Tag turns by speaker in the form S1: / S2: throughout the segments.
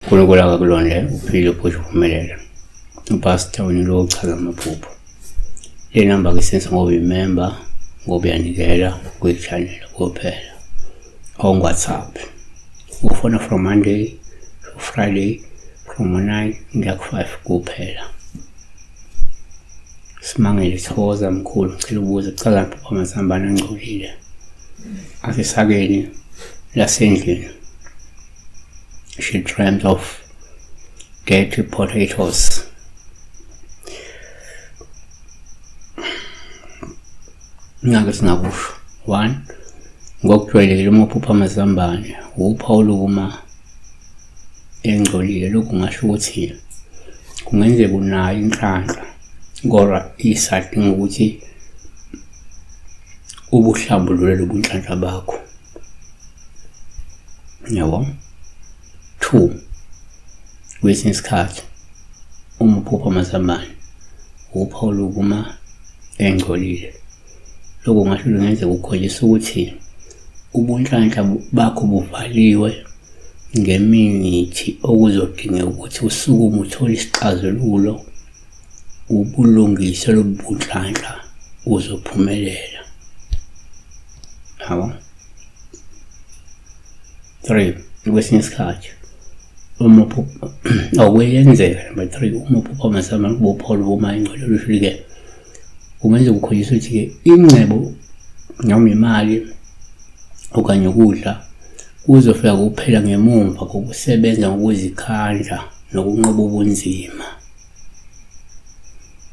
S1: uNkulunkulu akakulondele uphile uphushe uphumelele upastor unyulo ochaza amaphupho le namba ke sense ngoba imemba ngoba uyanikela kwi-channel kuphela on WhatsApp. Ufona from Monday to Friday from 9 kuya ku-5 kuphela. Simangele Thokoza mkhulu ngicela ubuze kuchaza baba Mazambane angcolile. Asisakeni lasendlini. She dreamt of dirty potatoes. Ngake singakusho. 1. Ngokujwayelekile uma uphupha amazambane, wuphawu lokuma engcolile. Lokhu ngasho ukuthi kungenzeka unayo inhlanhla kodwa isadinga ukuthi ubuhlambulule lobu nhlanhla bakho. Yabo? 2. Kwesinye isikhathi uma uphupha amazambane, wuphawu lokuma engcolile. Lokho ngasho lungenzeka ukukhombisa ukuthi ubunhlanhla bakho buvaliwe ngemithi okuzodingeka ukuthi usukume uthole isixazululo ubulungise lobu bunhlanhla uzophumelela. Yabo? 3 kwesinye isikhathi uma awuyenzeka number 3 uma uphupha amasama kubopholo uma ingcwele luhlike kungenza ukukhoyisa ukuthi ke ingcebo noma imali okanye ukudla kuzofika kuphela ngemumva kokusebenza ngokuzikhandla nokunqoba ubunzima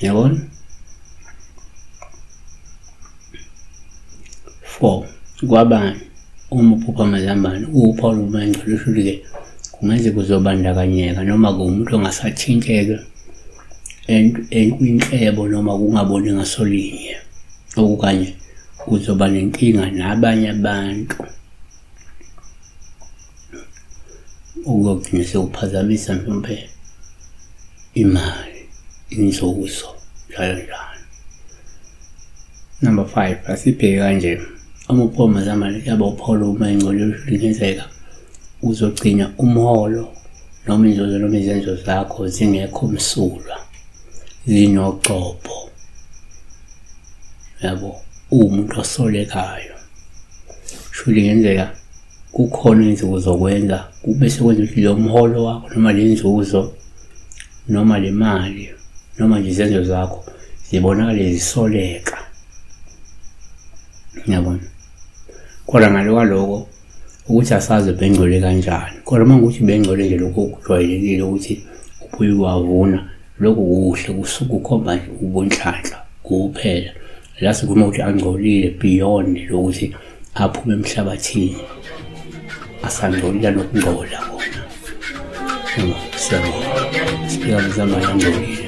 S1: yabona 4 kwabani uma uphupha amazambane uwuphawu lomangcwele lusho ukuthi-ke kungaze kuzobandakanyeka noma kuwumuntu ongasathinteke enkwinhlebo noma kungaboni ngasolinye okukanye uzoba nenkinga nabanye abantu okuyogcina sekuphazamisa mhlawumbe imali inzuzo njalo njalo number five asibheke kanje amapoma zamane yaba upholo uma ingcono lingenzeka uzogcina umholo noma inzuzo noma izenzo zakho zingekho msulwa zinogxobho yabo uwumuntu osolekayo shuthi ngenzeka kukhona izinsuku zokwenza kube sekwenza ukuthi lo mholo wakho noma le nzuzo noma le mali noma nje izenzo zakho zibonakale zisoleka ngiyabona kodwa ngale kwaloko ukuthi asazi bengcole kanjani kodwa uma ngukuthi bengcole nje lokho kujwayelekile ukuthi ubuye wavuna lokhu kuhle kusukukhomba nje ubunhlanhla kuphela la sikhuluma ukuthi angcolile beyond lokuthi aphume emhlabathini asangcolile nokungcola kona siyabonga siphika mzamane angcolile